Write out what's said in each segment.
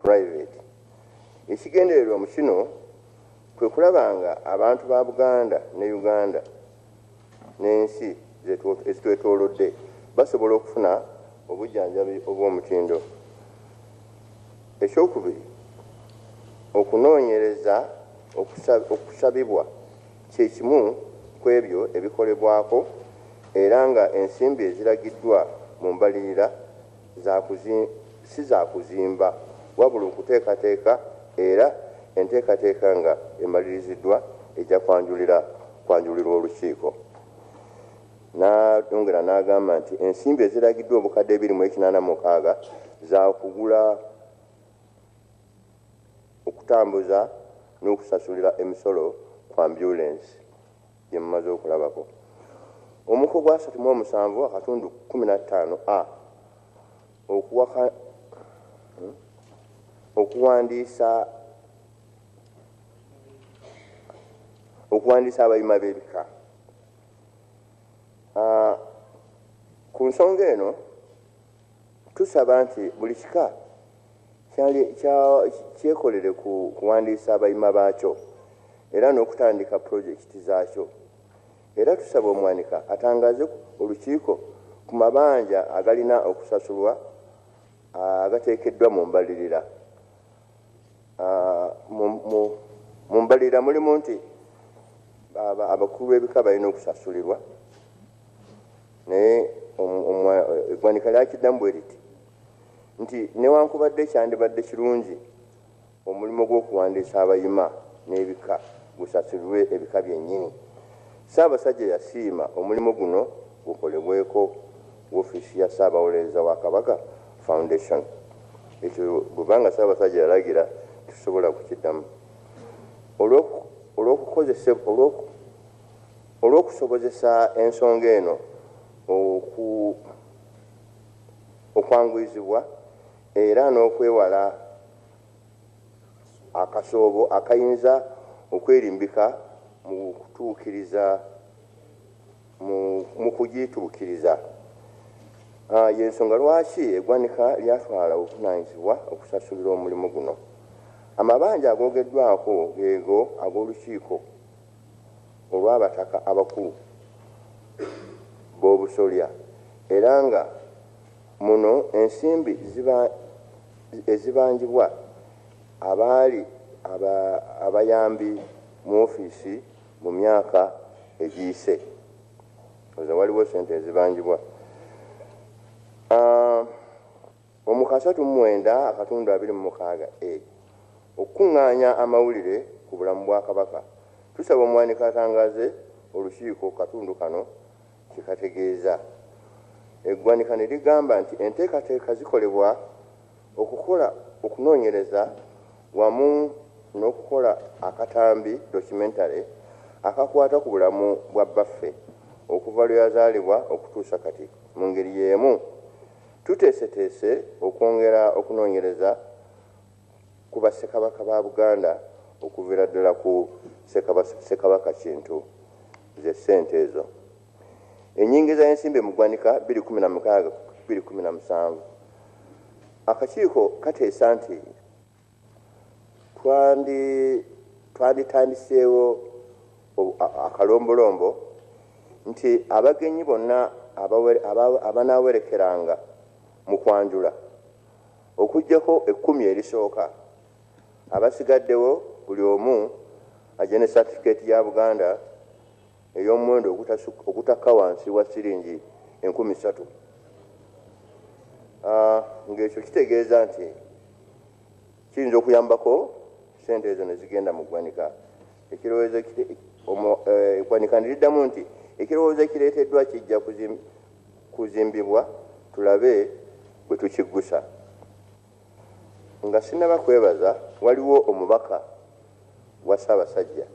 private ekigendererwa mu kino kwe kulaba nga abantu ba buganda ne uganda n'ensi ezitwetoolodde basobola okufuna obujjanjabi obw'omutindo ekyokubiri okunoonyereza okusabibwa kye kimu ku ebyo ebikolebwako era nga ensimbi eziragiddwa mu mbalirira si za kuzimba wabula okuteekateeka era enteekateeka nga emaliriziddwa ejja kwanjulirwa olukiiko. Nayongera n'agamba nti ensimbi eziragiddwa obukadde ebiri mu ekinaana mukaaga zaakugula okutambuza n'okusasulira emisolo ku ambyulensi. Bye mumaze okulabako. Omuko gwa asatu mu omusanvu akatundu kumi na ttaano a okuwaka hmm, okuwandiisa okuwandiisa abayima b'ebika ah, ku nsonga eno Tusaba nti buli kika kyekolere ku kuwandiisa abayima baakyo era n'okutandika pulojekiti zaakyo era tusaba omwanika atangaaze olukiiko ku mabanja agalina okusasulwa agateekeddwa mu mbalirira. Mu mbalirira mulimu nti abakulu b'ebika balina okusasulirwa naye eggwanika lyakiddamu bwe riti nti newankubadde kyandibadde kirungi omulimu gw'okuwandiisa abayima n'ebika gusasulirwe ebika byennyini ssaabasajja yasiima omulimu guno gukolebweko wofiisi ya Ssaabawolereza wa Kabaka Foundation. Ekyo bwe ba nga Ssaabasajja yalagira tetusobola kukiddamu. Olw'okusobozesa ensonga eno okwanguyizibwa era n'okwewala akasoobo akayinza okwerimbika mu kutuukiriza. mu kugiituukiriza y'ensonga lwaki eggwanika lyatwala obuvunaanyizibwa okusasulira omulimu guno. Amabanja agoogeddwako geego ag'olukiiko olw'abataka abakulu b'obusolya era nga muno ensimbi ezibanjibwa abaali abayambi mu ofiisi Mu myaka egiyise nze waliwo sente ezibanjibwa omu kasatu mu mwenda akatundu abiri mu mukaaga a okukuŋŋaanya amawulire ku bulamu bwa Kabaka tusaba omuwanika atangaze olukiiko katundu kano kye kategeeza. Eggwanika ne ligamba nti enteekateeka zikolebwa Okukola okunoonyereza wamu n'okukola akatambi, documentary, akakwata ku bulamu bwa bbaffe okuva lwe yazaalibwa okutuusa kati. Mu ngeri y'emu tuteeseteese okwongera okunoonyereza ku Bassekabaka ba Buganda okuviira ddala ku Ssekabaka Kintu ze ssente ezo. Enyingiza y'ensimbi mu ggwanika bbiri kumi na mukaaga bbiri kumi na musanvu akakiiko kateesa nti twanditandiseewo akalombolombo nti abagenyi bonna abanaawerekeranga mu kwanjula okugyako ekkumi erisooka abasigaddewo buli omu agye ne satifikeeti ya buganda ey'omuwendo ogutakka wansi wa siringi enkumi ssatu ah, ng'ekyo kitegeeza nti kiyinza okuyambako sente ezo ne zigenda mu ggwanika ekirowoozo eh, eggwanika ne liddamu nti ekirowoozo ekireeteddwa kijja kuzimbibwa tulabe bwe tukiggusa Nga sinaba kwebaza waliwo omubaka wa Ssabasajja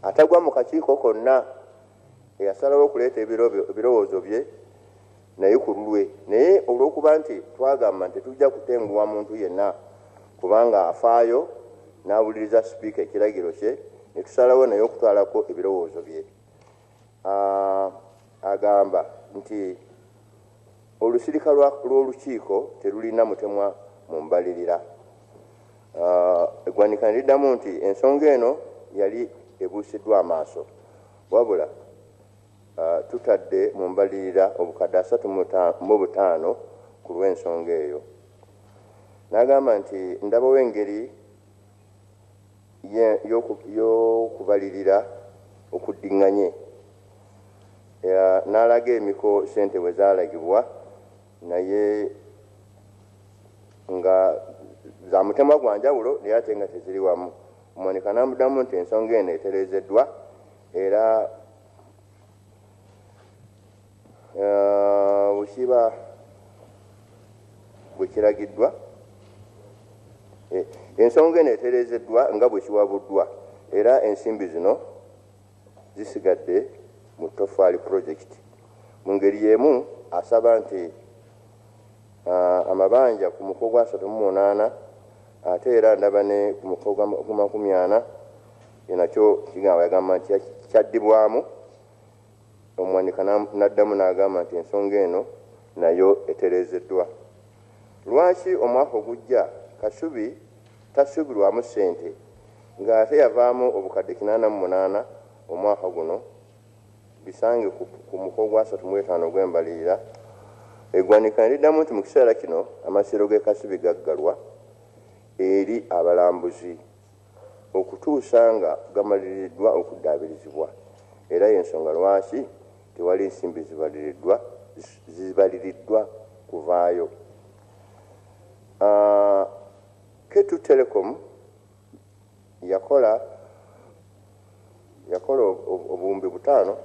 atagwa mu kakiiko konna eyasalawo okuleeta ebirowoozo bye naye ku lulwe naye olw'okuba nti twagamba nti tetujja kutenguwa muntu yenna kubanga afaayo n'awuliriza sipiika ekiragiro kye ne tusalawo naye okutwalako ebirowoozo bye agamba nti Olusirika lwa lw'olukiiko terulina mutemwa mu mbalirira. Eggwanika ne liddamu nti ensonga eno yali ebuusiddwa amaaso wabula tutadde mu mbalirira obukadde asatu mu butaano ku lw'ensonga eyo. N'agamba nti ndabawo engeri. Ye y'okubalirira okuddinganye n'alaga emiko ssente we zaalagibwa naye nga za mutemwa gwa njawulo naye ate nga teziri wamu. Monica n'amuddamu nti ensonga eno etereezeddwa era. Wekiba bwekiragiddwa, ensonga eno etereezeddwa nga bwekiwabuddwa era ensimbi zino zisigadde mu Toffaali Project. Mu ngeri y'emu asaba nti amabanja ku muko gwa asatu mu munaana ate era ndaba ne ku muko gwa makumi ana nakyo kigamba yagamba nti kyaddibwamu Omwanika n'addamu n'agamba nti ensonga eno nayo etereezeddwa. Lwaki omwaka ogujja Kasubi tasuubirwamu ssente ng'ate yavaamu obukadde kinaana mu munaana omwaka guno? Bisange ku muko ogwasatu mu etaano ogw'embalirira. Eggwanika ne liddamu nti mu kiseera kino Amasiro g'e Kasubi gaggalwa eri abalambuzi. okutuusa nga gamaliriddwa okuddaabirizibwa era y'ensonga lwaki tewali nsimbi zibaliriddwa kuvaayo. Ketu Telecom yakola yakola obuwumbi butaano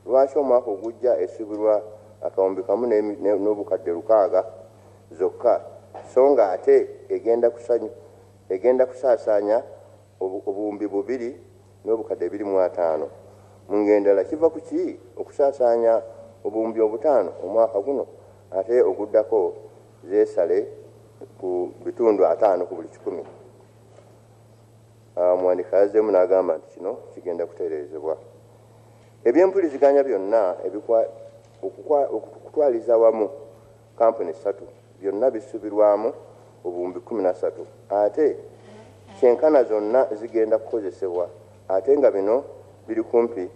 lwaki omwaka ogujja esubirwa akawumbi kamu n'obukadde lukaaga zokka so nga ate egenda kusanyu egenda kusaasaanya obuwumbi bubiri n'obukadde ebiri mu ataano. Mu ngeri endala kiva ku ki okusaasaanya obuwumbi obutaano omwaka guno ate oguddako zeesale ku bitundu ataano ku buli kikumi. Ah, omuwandiika yazzeemu n'agamba nti kino kigenda kutereezebwa ebyempuliziganya byonna okutwaliza wamu kkampuni ssatu byonna bisubirwamu obuwumbi kumi na satu ate kyenkana zonna zigenda kukozesebwa ate nga bino biri kumpi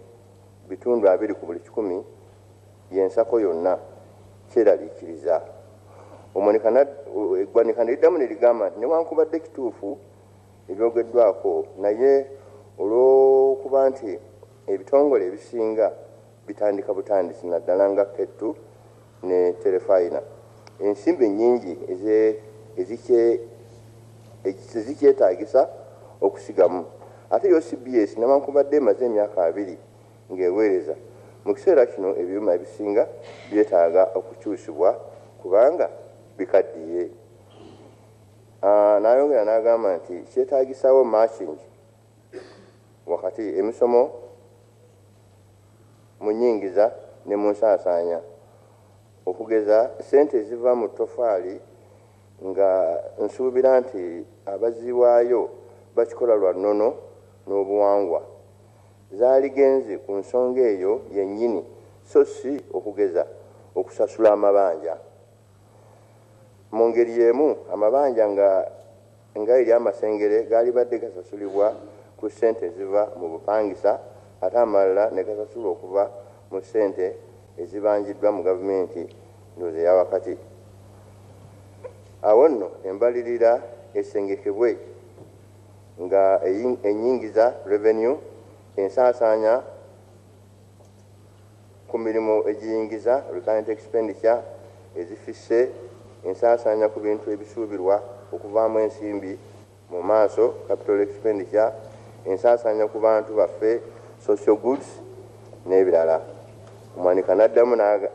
bitundu abiri ku buli kikumi byensako yonna kyeraliikiriza eggwanika neriddamu nerigamba nti newankubadde kituufu ebyogeddwako naye olwokuba nti ebitongole ebisinga bitandika butandisi naddala nga kettu ne Terefayina, ensimbi ennyingi ezikyetaagisa okusigamu. Ate yo cbs newankubadde emaze emyaka abiri ng'eweereza, mu kiseera kino ebyuma ebisinga byetaaga okukyusibwa kubanga bikaddiye. N'ayongera n'agamba nti kyetaagisaawo Makingi. wakati emisomo mu nyingiza ne mu nsaasaanya okugeza ssente eziva mu ttofaali nga nsuubira nti abaziwaayo bakikola lwa nnono n'obuwangwa zaaligenze ku nsonga eyo yennyini so si okugeza okusasula amabanja. Mu ngeri y'emu amabanja nga Nga eri amasengere gaalibadde gasasulibwa ku ssente eziva mu bupangisa ate amalala ne gasasulwa okuva mu ssente ezibanjiddwa mu gavumenti ndowooza eya wakati awo nno embalirira esengekebwe nga ennyingiza, revenue, ensaasaanya, ku mirimu egiyingiza, recurrent expenditure, ezifisse, ensaasaanya ku bintu ebisuubirwa okuvaamu ensimbi mu maaso, capital expenditure, ensaasaanya ku bantu baffe, social goods, n'ebirala. Omwanika n'addamu n'aga,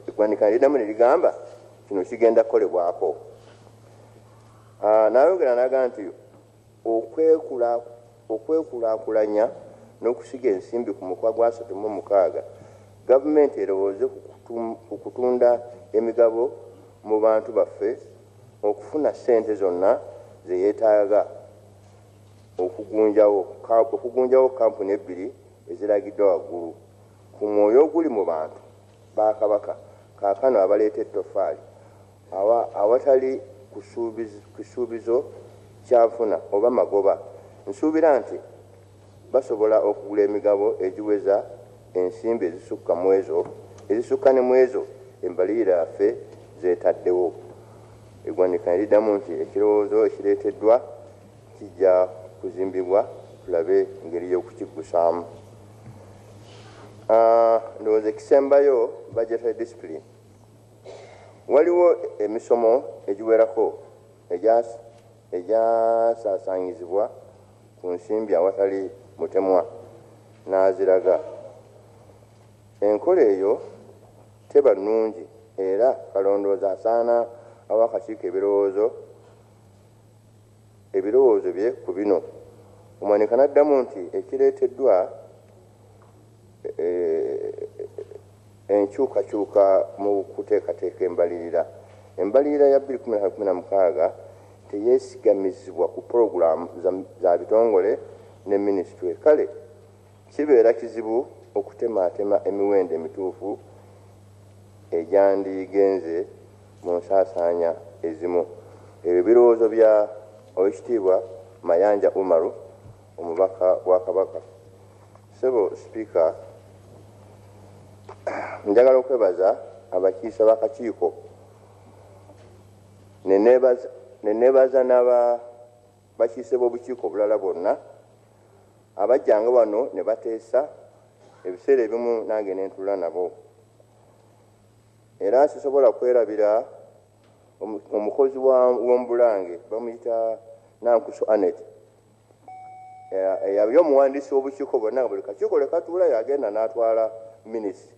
eggwanika ne liddamu ne ligamba, Kino kigenda kukolebwako. N'ayongera n'aga nti. okwekulaakulanya n'okusiga ensimbi ku mukoa gwa asatu mu mukaaga, gavumenti erowooze ku kutunda emigabo mu bantu baffe okufuna ssente zonna ze yeetaaga okugunjawo kkampuni ebbiri eziragiddwa waggulu ku mwoyo oguli mu bantu ba Kabaka kaakano abaleeta ettoffaali Awatali kisuubizo kya nfuna oba magoba, nsuubira nti basobola okugula emigabo egiweza ensimbi ezisukka mu ezo ezisukka ne mu ezo embalirira yaffe z'etaddewo. Eggwanika ne liddamu nti, Ekirowoozo ekireeteddwa kijja kuzimbibwa tulabe engeri y'okukiggusaamu. Ndowooza ekisembayo budgetary discipline. Waliwo emisomo egiwerako egyasaasaanyizibwa ku nsimbi awatali mutemwa n'aziraga. Enkola eyo teba nnungi era Kalondoozi asaana awe akakiiko ebirowoozo ebirowoozo bye ku bino. Omwanika n'addamu nti ekireeteddwa enkyukakyuka mu kuteekateeka embalirira. Embalirira ya 2016 teyesigamizibwa ku pulogulaamu za bitongole ne minisitule kale kibeera kizibu okutemaatema emiwendo emituufu egyandigenze mu nsaasaanya ezimu. Ebyo birowoozo bya Owekitiibwa Mayanja Umaru omubaka wa Kabaka. Ssebo Sipiika, njagala okwebaza abakiise b'akakiiko ne neebaza n'abakiise b'obukiiko obulala bonna abajjanga wano ne bateesa ebiseera ebimu nange ne ntuula nabo era sisobola kwerabira omukozi w'omu Bulange bamuyita Nankusu Annet eyabye omuwandiisi w'obukiiko bwonna nga buli kakiiko lwe katuula yagenda n'atwala minisi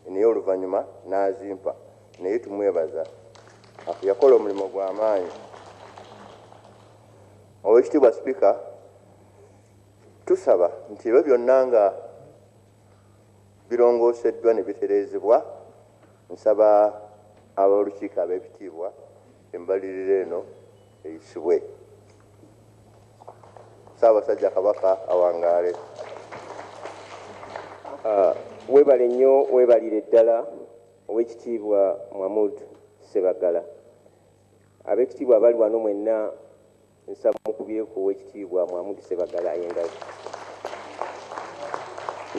naye oluvannyuma n'azimpa naye tumwebaza yakola omulimu gw'amaanyi owekitiibwa sipiika tusaba nti ebyo byonna nga birongooseddwa ne bitereezebwa nsaba ab'olukiiko ab'ebitiibwa embalirira eno eyisibwe. Ssaabasajja Kabaka awangaale. Webale nnyo webalire ddala Owekitiibwa Mwamud Ssebaggala. Abekitiibwa abali wano mwenna nsaba mukubyeku Owekitiibwa Mwamud Ssebaggala engalo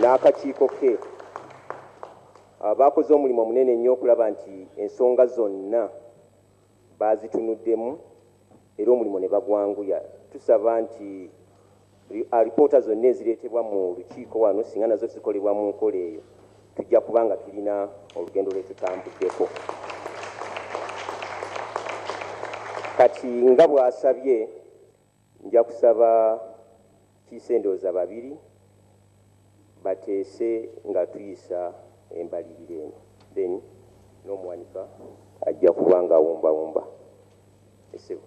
n'akakiiko ke abakoze omulimu omunene nnyo okulaba nti ensonga zonna baazitunuddemu era omulimu ne bagwanguya. Tusaba nti alipoota zonna ezireetebwa mu lukiiko wano singa nazo zikolebwa mu nkola eyo tujja kuba nga tulina olugendo lwe tutambuddeko. Kati nga bw'asabye Nja kusaba kiise ndowooza babiri bateese nga tuyisa embalirira eno then n'omuwanika ajja kuba nga awumbawumba. Ssebo.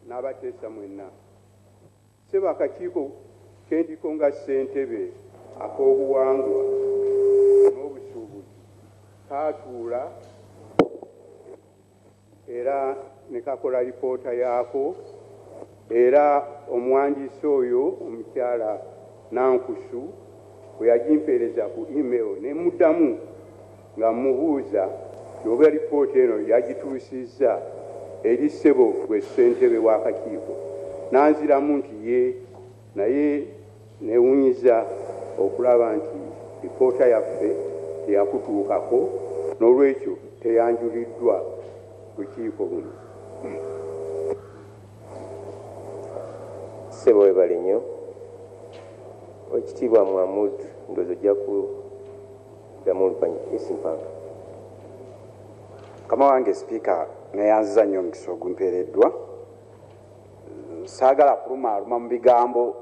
Nabateesa mwenna, ssebo akakiiko kendiko nga ssentebe ak'obuwangwa n'obusuubuzi kaatuula era nekakola lipoota yaako era omuwandiisi oyo omukyala Nankusu bwe yagimpeereza ku email ne muddamu Nga mmubuuza oba lipoota eno yagituusizza eri ssebo ggwe ssentebe w'akakiiko n'anziramu nti yee naye nneewuunyizza okulaba nti lipoota yaffe teyakutuukako noolwekyo teyanjuliddwa bukiiko buno. Ssebo webale nnyo. Owekitiibwa Muhamud ndowooza ojja ku. Ddamu oluvannyuma. Yes, Mpange. Mukama wange Sipiika, nneeyanziza nnyo omukisa ogumpeereddwa. Saagala kulumaaluma mu bigambo.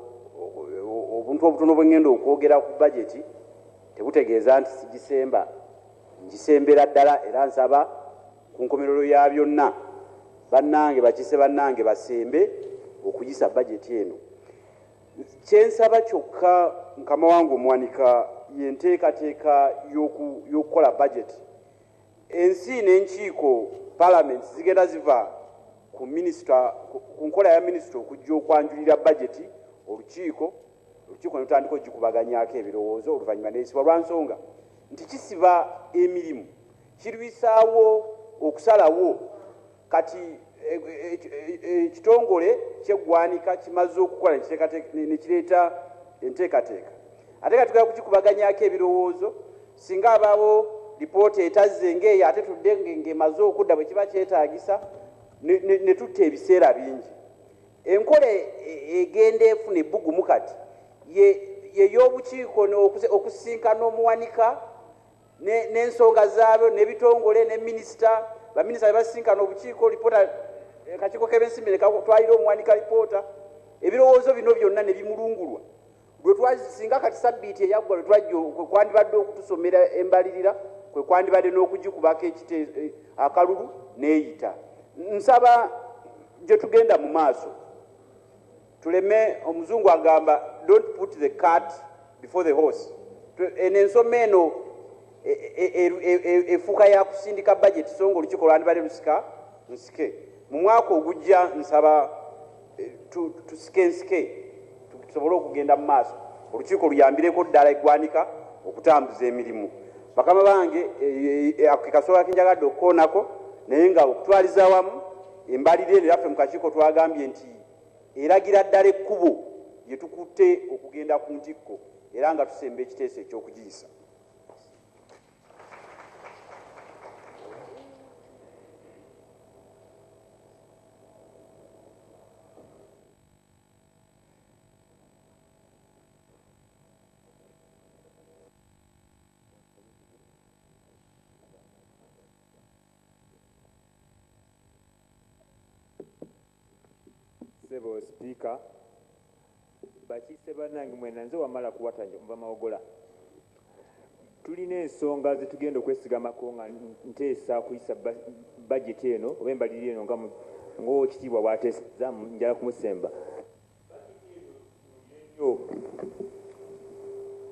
Obuntu obutono bwe ŋŋenda okwogera ku bajeti tebutegeeza nti sigisemba. Ngisembera ddala era nsaba ku nkomerero ya byonna bannange bakiise bannange basembe okuyisa bajeti eno. Kye nsaba kyokka mukama wange Omuwanika ye nteekateeka y'okukola bajeti. Ensi n'enkiiko, palamenti, zigenda ziva ku minisita, ku nkola ya minisita okujja okwanjulira bajeti olukiiko, olukiiko ne lutandika okugikubaganyaako ebirowoozo oluvannyuma n'eyisibwa lwa nsonga nti kisiba emirimu, kirwisaawo okusalawo. Kati ekitongole kyeggwanika kimaze okukola ne kireeta enteekateeka ate nga tugala kukikubaganyako ebirowoozo singa abaawo lipoota etazze ng'eyo ate tudde ng'emaze okudda bwe kiba kyetaagisa ne tutta ebiseera bingi enkola e, e, egenda efuna ebbugumu kati yey'obukiiko okusisinkana omuwanika n'ensonga ne zaabyo n'ebitongole ne minisita baminisita be basisinkana obukiiko lipoota eh, kakiiko k'ebensimbi nekatwalira omuwanika lipoota ebirowoozo bino byonna ne bimulungulwa lwetwasinga kati sabbiiti eyaggwa lwe twajja kwe kwandibadde okutusomera embalirira kwe kwandibadde n'okugikubako eh, akalulu n'eyita nsaba gye tugenda mu maaso Tuleme omuzungu agamba don't put the cat before the horse. Eno ensoma eno efuuka ya kusindika bajeti so nga olukiiko lwandibadde lusika nsike mu mwaka ogujja nsaba eh, tusike nsike tusobole okugenda mu maaso olukiiko luyambireko ddala eggwanika okutambuza emirimu bakama bange eh, eh, ako kekasobola kenjagadde okukoonako naye nga okutwaliza wamu embalire eno yaffe mu kakiiko twagambye nti eragira ddala ekkubo lye tukutte okugenda ku ntikko era nga tusemba ekiteeso eky'okugiyisa. Sebo speaker bakiise banange mwena nze wamala kuwata nja kuva mawogola tulina ensonga zetugenda okwesigamako nga nteesa kuyisa bajeti eno oba embalirira eno nga ngowekitiibwa bwateseza njala kumusemba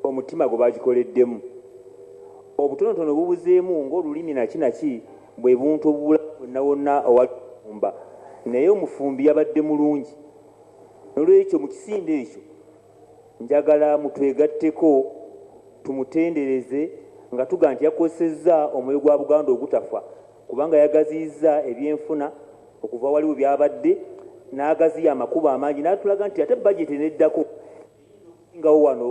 omutima gwe bagikoleddemu obutonotono bubuzeemu ng'olulimi naki naki bwe buntu obubula wonna wonna awali omufumba naye omufumbi yabadde mulungi nolwekyo mu kisinde ekyo njagala mutwegatteko tumutendereze nga tuga nti yakozesezza omwoyo gwa Buganda ogutafa kubanga yagaziyizza ebyenfuna okuva awali we byabadde n'agaziya amakubo amangi n'atulaga nti ate bajeti eneddako ngawo wano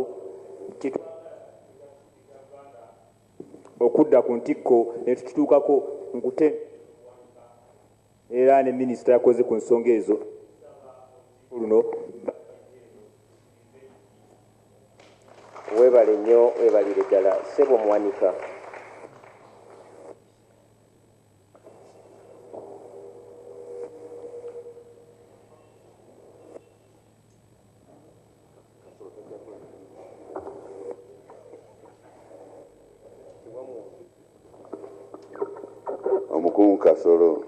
okudda ku ntikko ne tukituukako nkute era ne minisita yakoze ku nsonga ezo luno webale nnyo webalire ddala sebo muwanika omukungu kasolo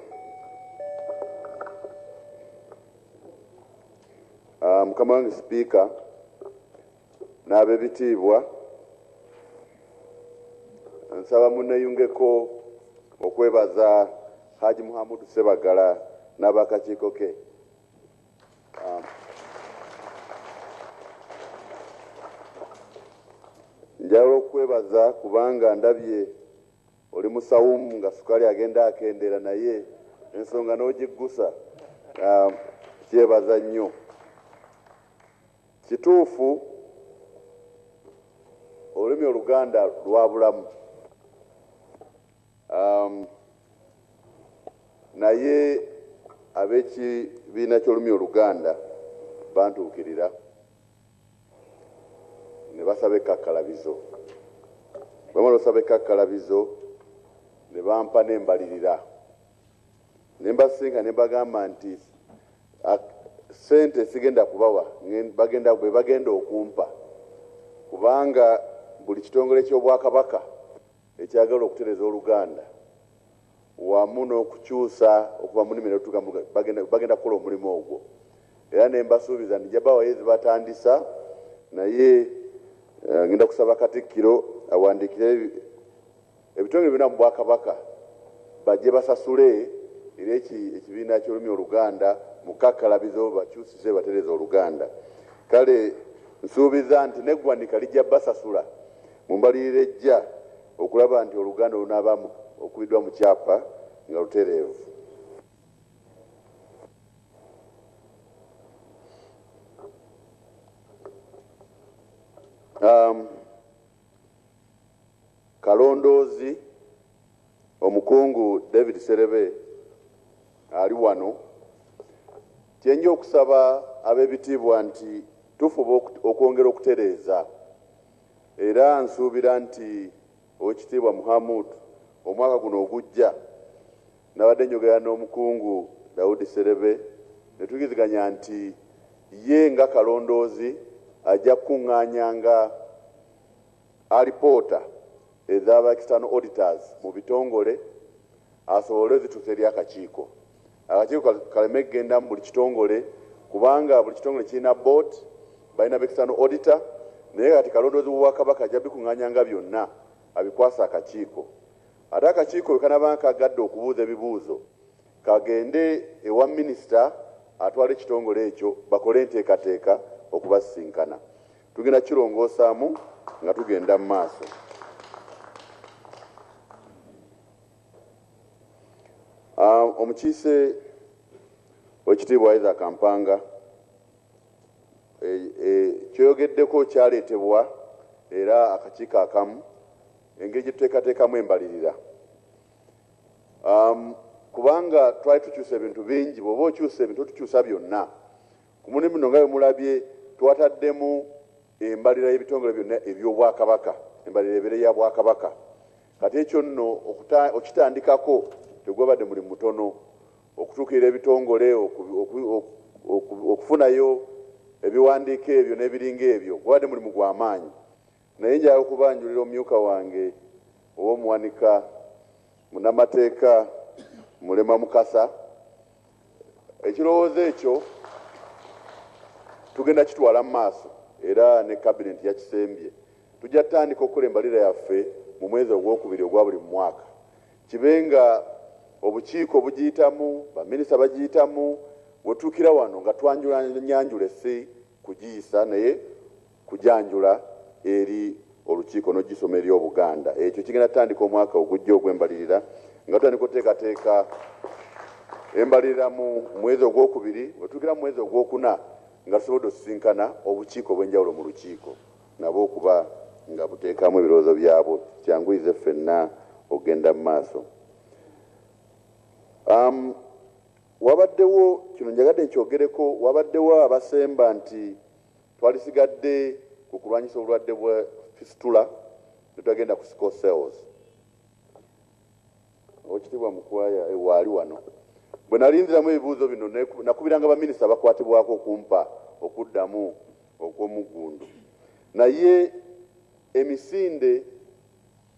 ah, mukama wange sipiika N'abebitiibwa, nsaba muneyungeko okwebaza Hajj Muhamudu Ssebaggala n'abakakiiko ke. Njagala okukwebaza kubanga ndabye oli musawumu nga sukaali agenda akendeera naye ensonga n'ogiggusa. Nkyebaza nnyo. Kituufu olulimi oluganda lwabulamu um, naye ab'ekibiina ky'olulimi oluganda bantuukirira ne basaba ekkakkalabizo bamala osaba ekkakkalabizo ne bampa n'embalirira ne mbasisinkana ne mbagamba nti ssente sigenda kubawa bagenda be bagenda okumpa kubanga buli kitongole ky'obwakabaka ekyagala okutereza oluganda wamu n'okukyusa okuva mu nnimi netutuuka bagenda kukola omulimu ogwo era ne mbasuubiza nti jabawayo ezibatandisa naye eh, ngenda kusaba katikkiro awandikire Ebitongole byona mu bwakabaka bajje basasule era eki ekibiina kyolumi oluganda mukakkalabizo bakyusize batereze oluganda kale nsuubiza nti neggwanika lijja basasula mu mbalirira ejja okulaba nti oluganda olunaaba okubidwa mu kyapa nga lutereevu. Um, Kalondoozi, Omukungu David Sserebe ali wano. Kyenja okusaba ab'ebitiibwa nti tufuba okwongera okutereeza era nsuubira nti Owekitiibwa Muhamood omwaka guno ogujja nabadde njogera n'Omukungu Daudi Sserebe ne tuyigiziganya nti ye nga Kalondoozi ajja kukungaanyanga alipoota eza ba external auditors mu bitongole asobole ozituusa eri akakiiko. Akakiiko kaleme kugenda mu buli kitongole kubanga buli kitongole kirina board, balina ba external auditor naye kati kalondoozi w'Obwakabaka ajja bikung'anyanga byonna abikwase akakiiko. Ate akakiiko bwe kanaaba nga kagadde okubuuza ebibuuzo kagende ewa minisita atwala ekitongole ekyo bakole enteekateeka okubasisinkana. Tugenda kirongosaamu nga tugenda mu maaso. Ah, omukiise wekitiibwa Isaac Kampanga e, e, kyoyogeddeko kyaleetebwa era akakiiko akamu engeri gye tuteekateekamu embalirira um, kubanga twali tukyusa ebintu bingi bwoba okyusa ebintu tukyusa byonna Ku mulimu guno nga bwe mulabye twataddemu embalira y'ebitongole byonna eby'Obwakabaka, embalira ebeere ya Bwakabaka. Kati ekyo nno okitandikako tegwabadde mulimu mutono, okutuukirira ebitongole, okufunayo ebiwandiiko ebyo n'ebiringa ebyo gwabadde mulimu gwa maanyi. Naye njagala okubanjulira omumyuka wange ow'Omuwanika, Munnamateeka Mulemwa Mukasa, Ekirowoozo ekyo tugenda kitwala mu maaso era ne kabinenti yakisembye. Tujja tutandika okukola embalira yaffe mu mwezi ogwokubiri ogwa buli mwaka, kibe nga obukiiko bugiyitamu, baminisita bagiyitamu, wetutuukira wano nga twanjulanyanjula essi kugiyisa naye kujanjula eri olukiiko n'ogisoma eri Obuganda. Ekyo kigenda kutandika omwaka ogujja ogw'embalirira nga tutandika okuteekateeka embalirira mu mwezi ogwokubiri we tutuukira mu mwezi ogwokuna nga tusobodde osisinkana obukiiko obw'enjawulo mu lukiiko nabo okuba nga buteekamu ebirowoozo byabwo kyanguyize ffenna okugenda mu maaso. Um, wabaddewo kino njagadde nkyogereko wabaddewo abasemba nti Twalisigadde ku kulwanyisa obulwadde bwa Fistula ne twagenda ku Sickle Cells. Owekitiibwa Mukwaya e waali wano. Bwe nalinziramu ebibuuzo bino nakubiranga baminisita abakwatibwako okumpa okuddamu okw'omuggundu. Naye emisinde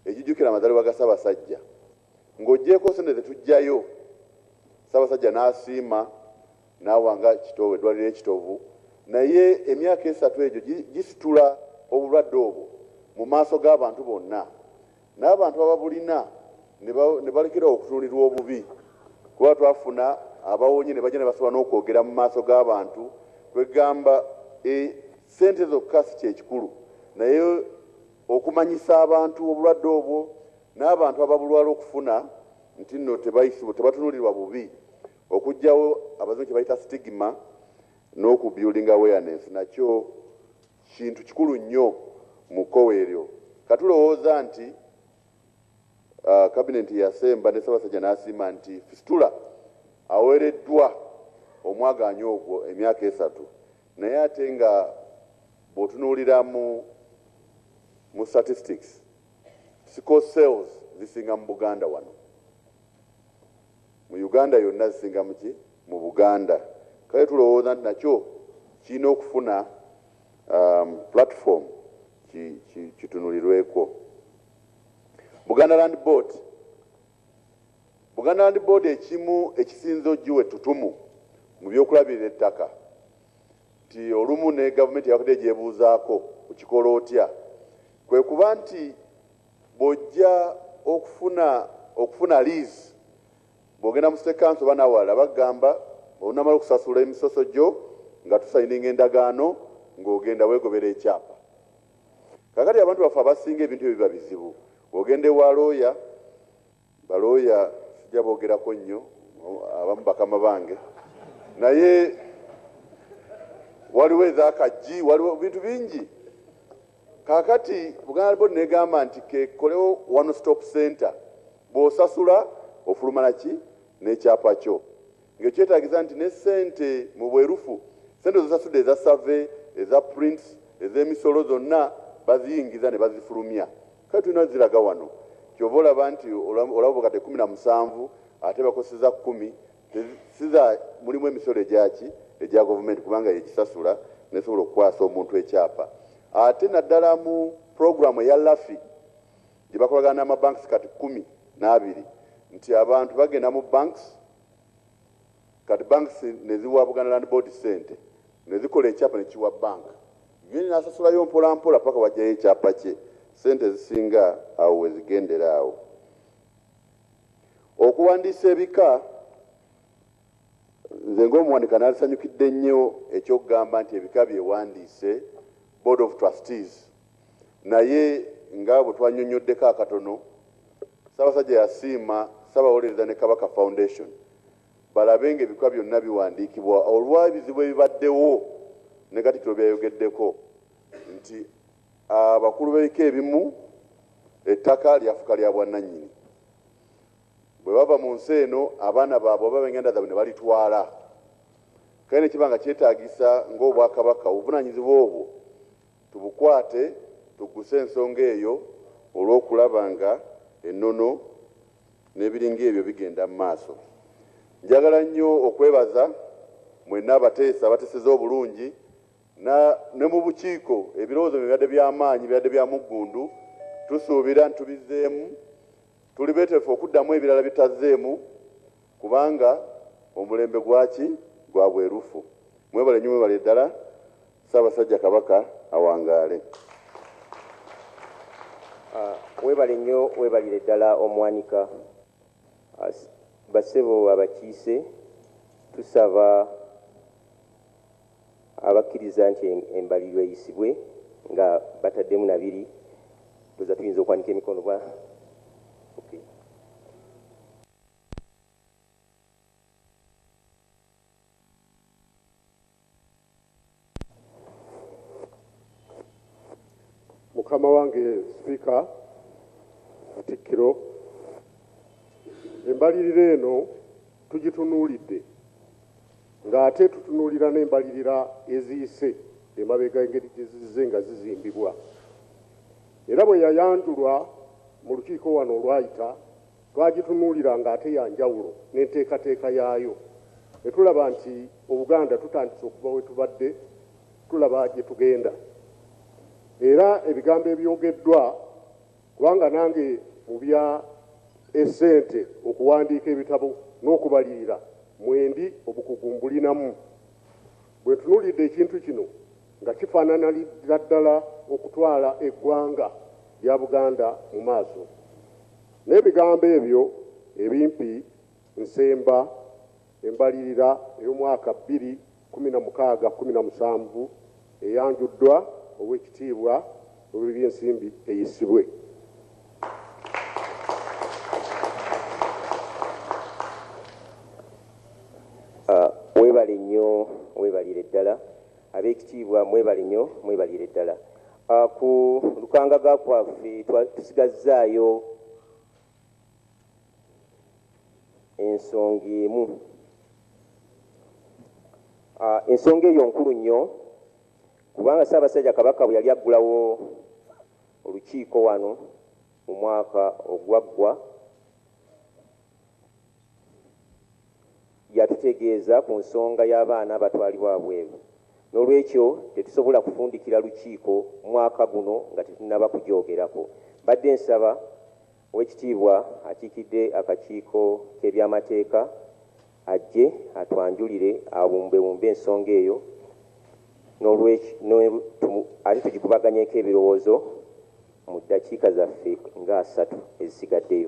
egijukira amazalibwa ga Ssabasajja. Ng'oggyeeko ssente ze tuggyayo, Ssaabasajja n'asiima n'awa nga Kitowe eddwaaliro e Kitovu naye emyaka esatu egyo gi, gisitula obulwadde obwo mu maaso g'abantu bonna n'abantu ababulina ne ba, ne balekera okutunulirwa obubi kuba twafuna abawonye ne bajja ne basobola n'okwogera mu maaso g'abantu kwegamba e, ssente zokka si kye kikulu naye okumanyisa abantu obulwadde obwo N'abantu ababulwala okufuna nti nno tebatunulirwa bubi okujjawo abazungu kyebayita stigma n'oku building awareness nakyo kintu kikulu nnyo mu kkowe eryo. Katulowooza nti Cabinet eyasemba ne Ssabasajja n'asiima nti Fistula awereddwa omwagaanya ogwo emyaka esatu naye ate nga bwotunulira mu mu statistics, Sickle cells zisinga mu Buganda wano. Mu Uganda yonna zisinga mu ki? Mu Buganda. Kale tulowooza nti nakyo kirina okufuna um, platform kitunulirweko. Buganda Land Board Buganda Land Board ekimu ekisinze ogiwa ettutumu mu byokulabirira ettaka nti olumu ne gavumenti yabadde gyebuuzaako okikola otya, kwe kuba nti bw'ojja okufuna okufuna liizi bw'ogenda mu State Council oba n'awalala bakugamba olunamala okusasula emisoso gyo nga tusayininga endagaano ng'ogenda weegobera ekyapa. Kaakati abantu baffe abasinga ebintu ebyo biba bizibu, ogenda ewa looya Ba lawyer sijja bogerako nnyo abamu bakama bange naye waliwo eza kajji waliwo bintu bingi kakati buganda bod negamba nti kekolewo one stop center bwosasula ofuluma naki nekyapa kyo Nga ekyetaagisa nti ne ssente mu bwerufu, ssente z'osasudde eza survey, eza prints, ez'emisolo zonna baziyingiza ne bazifulumya. Kale tulina ziraga wano. Ky'ova olaba nti olaba obakadde kkumi na musanvu ate bakoseza kkumi, si za, mulimu emisolo egya ki? Egya govumenti kubanga y'egisasula n'esobola okukwasa omuntu ekyapa. Ate naddala mu pulogulaamu eya LAFI gye bakolagana n'ama banks kati kkumi n'abiri nti abantu bagenda mu banks Kati banks neziwa Buganda Land Board ssente nezikola ekyapa nekiwa bank Gen nasasulayo mpola mpola paka wajayo ekyapa kye ssente ezisinga awo wezigendera awo okuwandiisa ebika nze ngaomuwandika nalisanyukidde nnyo ekyokugamba nti ebika byewandiise Board of Trustees Naye nga bwe twanyonnyoddeko akatono, Ssaabasajja yasiima Ssabawolereza ne Kabaka Foundation balabe nga ebikula byonna biwandiikibwa olwa ebizibu ebibaddewo ne Katikkiro byeyayogeddeko nti abakulu b'ebika ebimu ettaka lyafuka lya bwannannyini bwe bava mu nsi eno abaana baabwe oba benganda zaabwe ne balitwala kale ne kiba nga kyetaagisa ng'Obwakabaka obuvunaanyizibwa obwo Tubukwate tugguse ensonga eyo olw'okulaba nga ennono n'ebiringa ebyo bigenda mu maaso. Njagala nnyo okwebaza mwenna abateesa abateseza obulungi na ne mu bukiiko ebirowoozo bye bibadde bya maanyi, bibadde bya muggundu. Tusuubira nti tubizzeemu, tuli beeteefu okuddamu ebirala bye tutazzeemu. Kubanga omulembe gwaki gwa bwerufu. Mwebale nnyo mwebale ddala Ssabasajja Kabaka awangaale. Webale nnyo webalire ddala omwanika. Bassebo abakiise tusaba abakkiriza nti embalirwa eyisibwe nga bataddemu na biri ndowooza tuyinza okwanika emikono bwa okay. mukama wange sipiika katikkiro embalirira eno tugitunuulidde ng'ate tutunuulira n'embalirira eziyise emabega engeri gye zizze nga zizimbibwa era bwe yayanjulwa mu lukiiko wano olwayita Twagitunuulira ng'ate ya njawulo n'enteekateeka yaayo ne tulaba nti Obuganda tutandise okuva we tubadde tulaba gye tugenda. Era ebigambo ebyogeddwa, kubanga nange mu bya essente, okuwandiika ebitabo n'okubalirira mwendi, obukugu mbulinamu. Bwe ntunuulidde ekintu kino nga kifaananalira ddala okutwala eggwanga lya Buganda mu maaso. N'ebigambo ebyo ebimpi nsemba embalirira ey'omwaka bbiri kkumi na mukaaga kkumi na musanvu eyanjuddwa Oweekitiibwa Ow'ebyensimbi eyisibwe. Mwebale nnyo, mwebalire ddala. Abeekitiibwa mwebale nnyo, mwebalire ddala. Ku lukangaga kwaffe tusigazzaayo ensonga emu. Ensonga eyo nkulu nnyo kubanga Ssaabasajja Kabaka bwe yali aggulawo olukiiko wano mu mwaka ogwaggwa, Yatutegeeza ku nsonga y'abaana abatwalibwa wabweru n'olwekyo tetusobola kufundikira lukiiko mwaka guno nga tetunnaba kugyogerako. Mbadde nsaba Owekitiibwa akiikidde akakiiko k'ebyamateeka ajje atwanjulire awumbewumbe ensonga eyo ate tugikubaganyeeko ebirowoozo mu ddakiika zaffe nga asatu ezisigaddeyo.